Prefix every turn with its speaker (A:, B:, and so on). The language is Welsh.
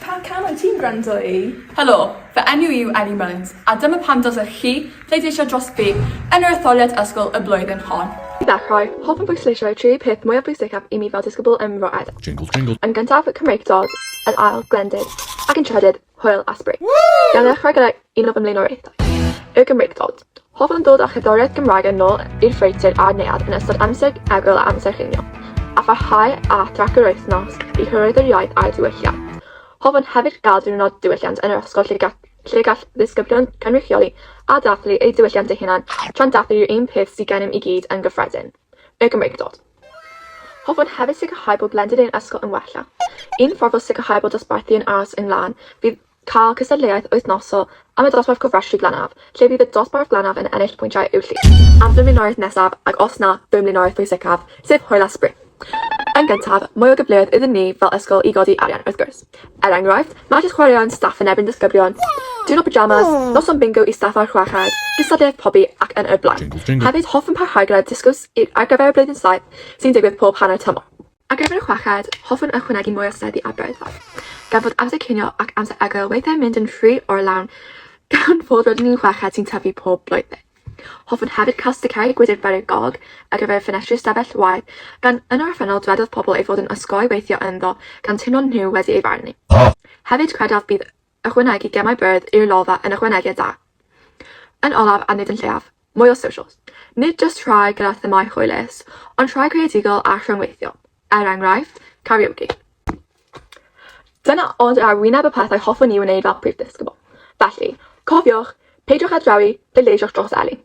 A: Pa can wyt ti'n gwrando i? Helo, fy
B: enw i yw Ellie Mullins a dyma pam dylsech chi pleidleisio dros fi yn yr etholiad ysgol y blwyddyn hon. I ddechrau, hoffwn
C: bwysleisio y tri pheth mwyaf bwysicaf i mi fel disgybl ym Mro Edel. Yn gyntaf,
D: Cymreictod,
C: yn ail, Glendid, ac yn trydydd, Hwyl a sbri! Gawn ni ddechrau gyda un o fy mlaenoriaethau, Y Gymreictod. Hoffwn ddod â cherddoriaeth Gymraeg yn ôl i'r ffreutur a'r neuadd yn ystod amser egwyl a amser cinio, a pharhau â thrac yr wythnos i hyrwyddo'r iaith a'i ddiwylliant. Hoffwn hefyd gael diwrnod diwylliant yn yr ysgol lle gall lle gall ddisgyblion cynrychioli a dathlu eu diwylliant eu hunain tra'n dathlu'r un peth sydd gennym i gyd yn gyffredin. Y Gymreigdod. Hoffwn hefyd sicrhau bod blended ein ysgol yn wella. Un ffordd o sicrhau bod dosbarthu yn aros yn lân fydd cael cystadleuaeth wythnosol am y dosbarth cofrestru Glanaf, lle bydd y dosbarth Glanaf yn ennill pwyntiau i'w llif. Am fy mlaenoriaeth nesaf, ac os na, fy mlaenoriaeth pwysicaf, sef hwyl a sbri. Yn gyntaf, mwy o gyfleoedd iddyn ni fel ysgol i godi arian, wrth gwrs. Er enghraifft, magic chwaraeon staff yn erbyn disgyblion, diwrnod pyjamas, noson bingo i staff a'r chweched, gystadleuaeth pobi ac yn y blaen. Hefyd, hoffwn parhau gyda'r dysgwrs ar gyfer y Blwyddyn Saith sy'n digwydd pob hanner tymor. Ar gyfer y chweched, hoffwn ychwanegu mwy o seddi a byrddau. Gan fod amser cinio ac amser egwyl weithiau'n mynd yn rhy or-lawn gan fod rydyn ni'n chweched sy'n tyfu pob blwyddyn. Hoffwn hefyd cael sticeri Gwydr Beryg Gog ar gyfer y ffenestri ystafell waed, gan yn yr orffennol dwedodd pobl ei fod yn osgoi weithio ynddo gan teimlo nhw wedi ei farnu. Hefyd credaf bydd ychwanegu gemau byrdd i'r lolfa yn ychwanegiad da. Yn olaf a nid yn lleiaf, mwy o socials. Nid jyst rhai gyda themâu hwylus, ond rhai creadigol a rhyngweithiol, er enghraifft, karaoke. Dyna ond ar wyneb y pethau hoffwn i wneud fel Prif Ddisgybl. Felly, cofiwch, peidiwch â drewi, pleidleisiwch dros Elin.